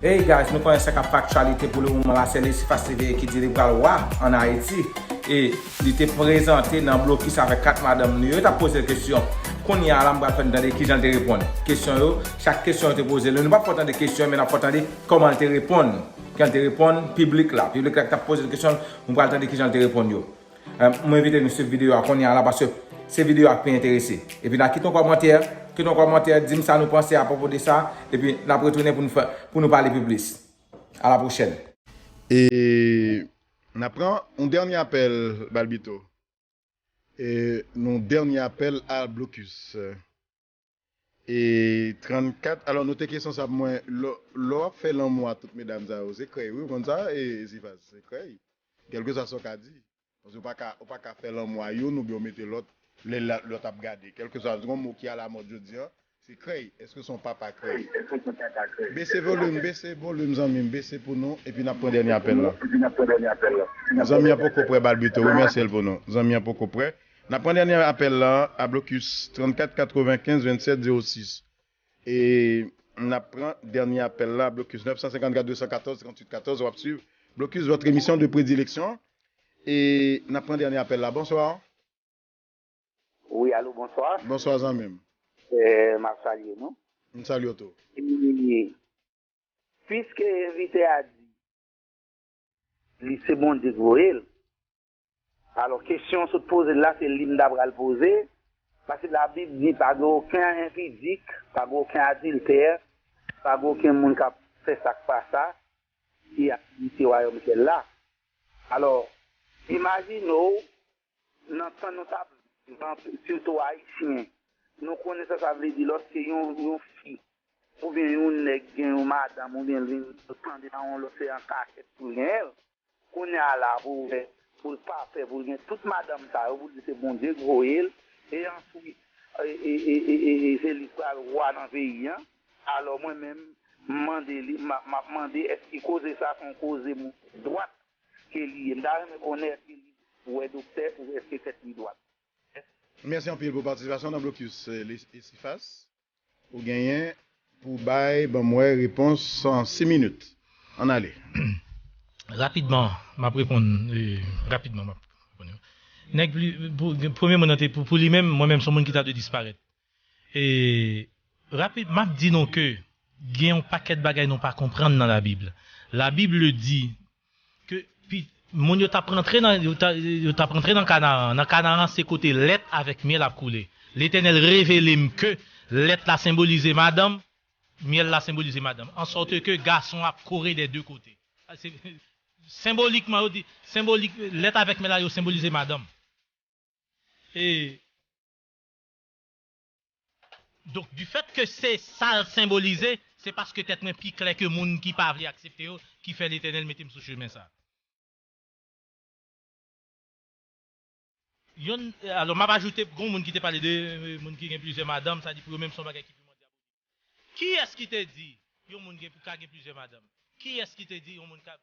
Hey guys nou konnen sa kap aktyalite pou le moman la se Lesifa Seveye ki di li pral wa an Ayiti e li te prezante nan blokis avèk 4 madanm li yo tap pozel kesyon kounye a la m pral fè nou tande kijan li te reponn kesyon yo chak kesyon yo te pozel yo nou pap fè w tande kesyon yo men nap fè w tande kòman li te reponn jan li te reponn piblik la piblik la ki tap pozel kesyon nou pral tande kijan li te reponn yo. M envite nou swiv videyo a kounye a la paske se videyo a k pi enterese. Epi nan kite yon kòmantè, kite yon kòmantè, di m sa nou panse apwopo de sa, epi n ap retounen pou nou fè, pou nou pale pi plis. A la pwochèn. E n ap pran yon dènye apèl, Balbito. E yon dènye apèl al blokis. E 34 alò note kesyon sa pou mwen lè wap fè lanmou a tout medam sa yo se krèy wi ou konn sa Zifas se krèy kèlkeswa sa w ka di paske ou paka ou paka fè lanmou a youn oubyen ou mete lòt lè lòt ap gade kèlkeswa se yon mo ki alamòd jodi an se krèy èske son papa krèy bese volim bese volim zanmi m bese pou nou epi nap pran dènye apèl lan zanmi an poko prè balbito remèsye l pou nou zanmi an poko prè N ap pran dènyè apèl la a blokis 34 95 27 06. E n ap pran dènyè apèl la a blokis 954 214 38 14. W ap swiv blokis votre emission de predilection. E n ap pran dènyè apèl la. Bonswa. Wi alo bonswa. Bonswa zanmi m. M ap salye nou. M salye w tou. E piske envite a di li se Bondye k voye l. Alò kesyon sot poze la se li m ta pral poze, paske labib di pa gen oken enpidik, pa gen oken adiltè, pa gen oken moun kap fè sak pa sa ki ap erite wayòm syèl la. Alò imajine w nan tan nou tap viv an sitou ayisyen nou konnen sa sa vle di lòske yon fi oubyen yon nèg gen yon madanm oubyen l vin tande nan yon lòt se an kachèt pou l genyen l. Kounye a la pou wè pou l pa pè pou l gen tout madanm sa yo pou l di se Bondye k voye l e answit e se li k pral wa nan peyi an alò mwen menm m mande li m ap mande èske koze sa se yon koze moun tèt dwat ke li ye m ta renmen konnen èske li wè doktè pou wè èske tèt li dwat. Mèsi anpil pou patisipasyon w nan Blocus Esifas. Ou genyen pou bay ban mwen repons an 6 minit. Ann ale. Rapidman m ap reponn rapidman m ap reponn yo. Nèg pli pou premye moun nan te pou li menm mwen menm s on moun ki ta dwe disparèt. E rapid m ap di nou ke gen yon pakèt bagay nou pa konprann nan labib. Labib le di Ke pi Moun yo tap rantre nan yo tap rantre nan Kanaran, nan Kanaran se kote lèt avèk myèl ap koule. Letènèl revele m ke lèt la senbolize madanm, myèl la senbolize madanm, ansòte ke gason ap kore dè de kote. Se Senbolikman yo di, senbolik lèt avèk myèl la yo senbolize madanm. E. Donk du fèt ke se sa l senbolize, se paske tèt mwen pi klè ke moun ki pa vle aksepte yo ki fè Letènèl mete m sou chemen sa. Yon, alò m ap ajoute, gon moun ki te pale de moun ki gen plizyè madanm, sa di pou yo menm se yon bagay ki piman dyabolik. Kiyès ki te di yon moun gen pou ka gen plizyè madanm? Kiyès ki te di yon moun ka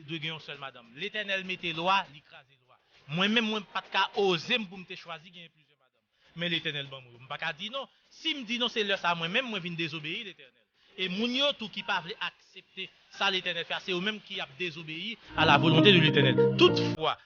dwe gen yon sèl madanm? Letènèl mete lwa, li kraze lwa. Mwen menm mwen pat ka oze m pou m te chwazi genyen plizyè madanm. Men Letènèl ban m yo. M pa ka di non. Si m di non se lè sa a mwen menm mwen vin dezobeyi Letènèl. E moun yo tou ki pa vle aksepte sa Letènèl fè a se yo menm ki ap dezobeyi a la volonte de Letènèl. Toutfwa,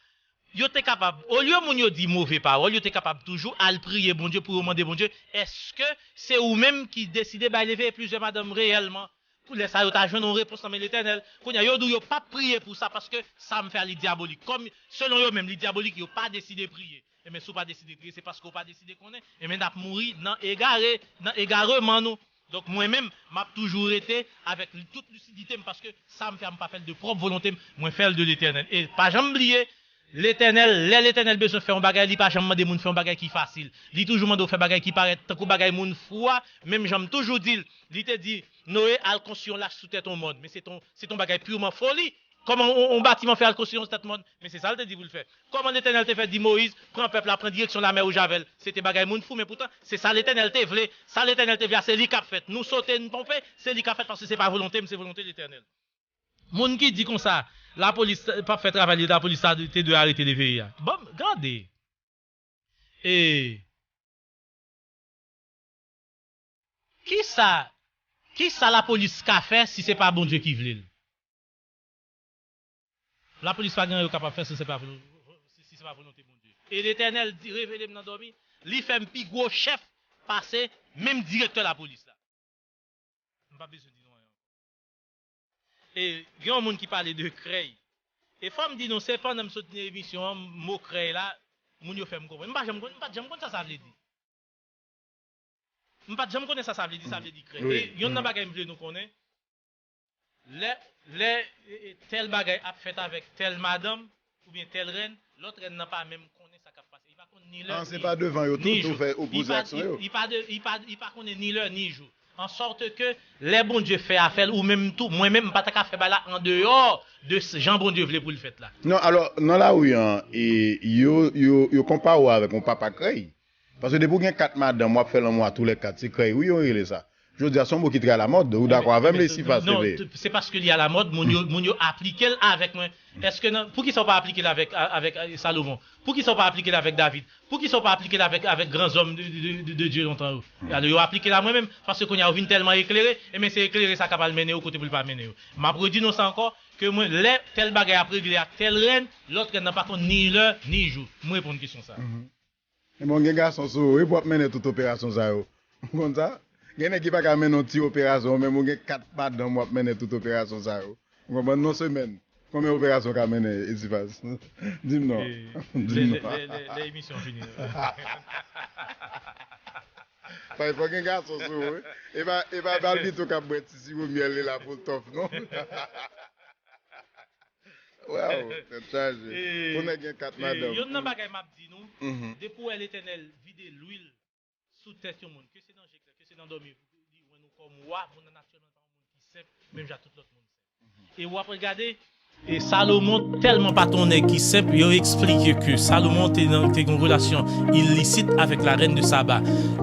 Yo te kapab, olye moun yo di move pawòl, yo te kapab toujou al priye Bondye pou yo mande Bondye, Èske se ou menm ki deside bay leve plizyè madanm reyèlman? Pou lè sa a, yo ta jwenn yon repons nan men Letènèl. Kounye a, yo di w yo pap priye pou sa paske sa m fè a li dyabolik. Kòm, selon yo menm, li dyabolik, yo pa deside priye. Enben, si w pa deside priye, se paske w pa deside konnen. Enben, n ap mouri nan egare, nan egareman nou. Donk mwen menm map toujou rete avèk tout lusiditem paske sam fè a mpa fèl de pròp volontem mwen fèl de letènèl e pa janm bliye letènèl lè letènèl bezwen fè yon bagay li pa janm mande moun fè yon bagay ki fasil li toujou mandew fè bagay ki parèt tankou bagay moun fou a menm janm toujou dil li te di Noe al konstwi yon lach sou tèt yon mòn men se ton se ton bagay purman foli Kòman yon batiman fè al konstwi yon stati mòn? Men se sa l te di pou l fè. Kòman Letènèl te fè di Moyiz pran pèp la, pran direksyon lamè wouj avè l? Se te bagay moun fou, men poutan, se sa Letènèl te vle. Sa Letènèl te vle a, se li k ap fèt. Nou sote, n twonpe, se li k ap fèt paske se pa volonte m, se volonte Letènèl. Moun ki di konsa, lapolis p ap fè travay li, lapolis ta te dwe arete Leveye a. Bon, gade! E. Ki sa, ki sa lapolis ka fè si se pa Bondye ki vle l? La polis pa gen an yo kapab fè si se pa volonte Bondye. E Letènèl revele m nan dòmi, li fè m pi gwo chèf pase menm direktè la polis la. M pa bezwen di nou anyen ankò. E gen yon moun ki pale de krèy. E fò m di nou, se pandan m sot nan emisyon an, mo krèy la, moun yo fè m konprann. M pa janm konn, m pa t janm konn sa sa vle di. M pa t janm konnen sa sa vle di, sa vle di krèy. E yonn nan bagay m vle nou konnen. Lè, lè tèl bagay ap fèt avèk tèl madanm oubyen tèl rèn, lòt rèn nan pa menm konnen sa k ap pase. Li pa konn ni lè, ni jou. Li pa, li pa, li pa, li pa konnen ni lè, ni jou. Ansòt ke, lè Bondye fè afè l, ou menm tou, mwen menm, m pa ta ka fè bagay la andeyò de jan Bondye vle pou l fèt la. Non, alò, nan lari an, yo, yo, yo konpare w avèk yon papa krèy. Paske depi w gen 4 madanm wap fè lanmou a tou lè 4 se krèy wi yo rele sa jodia son mo ki trè a la mòd ou dakò avèm lesi pa se veye. Se paske li a la mòd moun yo moun yo aplike l avèk mwen eske nan poukisa w pa aplike l avèk avèk Salomon poukisa w pa aplike l avèk David poukisa w pa aplike l avèk avèk gran zòm de de de Dye lontan yo alò yo aplike l a mwen menm paske kounye a yo vin tèlman eklere enben se eklere sa k ap al mennen yo kote pou l pa mennen yo m ap redi non sa ankò ke mwen lè tèl bagay ap regle ak tèl rèn lòt rèn nan pa konn ni lè ni jou m reponn kesyon sa a. Ebyen ou gen gason sou ou wi pou ap mennen tout operasyon sa yo. Ou konn sa? Gen nèg ki pa ka mennen yon ti operasyon, ou menm ou gen 4 madanm wap mennen tout operasyon sa yo. Ou konprann? Nan yon semèn, konbyen operasyon ou ka mennen Esifaz? Di m non. Di m non. Lè emisyon an fini. Sa e fò gen gason sou ou wi. E pa Balbito kap bwè ti siwo myèl li la pou l tòf non. Waww tèt chaje pou nèg gen 4 madanm. Yonn nan bagay map di nou depi ou wè letènèl vide lwil sou tèt yon moun ke se nan je klè ke se nan dòmi li wè nou kòm wa moun nan natirèlman pa yon moun ki senp menm jan ak tout lòt moun senp e wap regade Salomon tèlman pat yon nèg ki senp yo eksplike ke Salomon te gen yon relasyon ilisit avèk la rèn de Saba.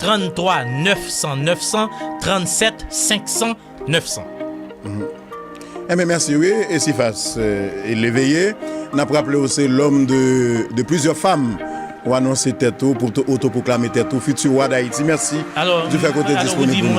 33 900 900 37 500 900. Enben merci wi Esifas Leveye nap raple ou se lòm de de plizyè fam ou anonse tèt ou pou otoproklame tèt ou fiti wa dayiti merci du fè ke ou te disponib pou nou.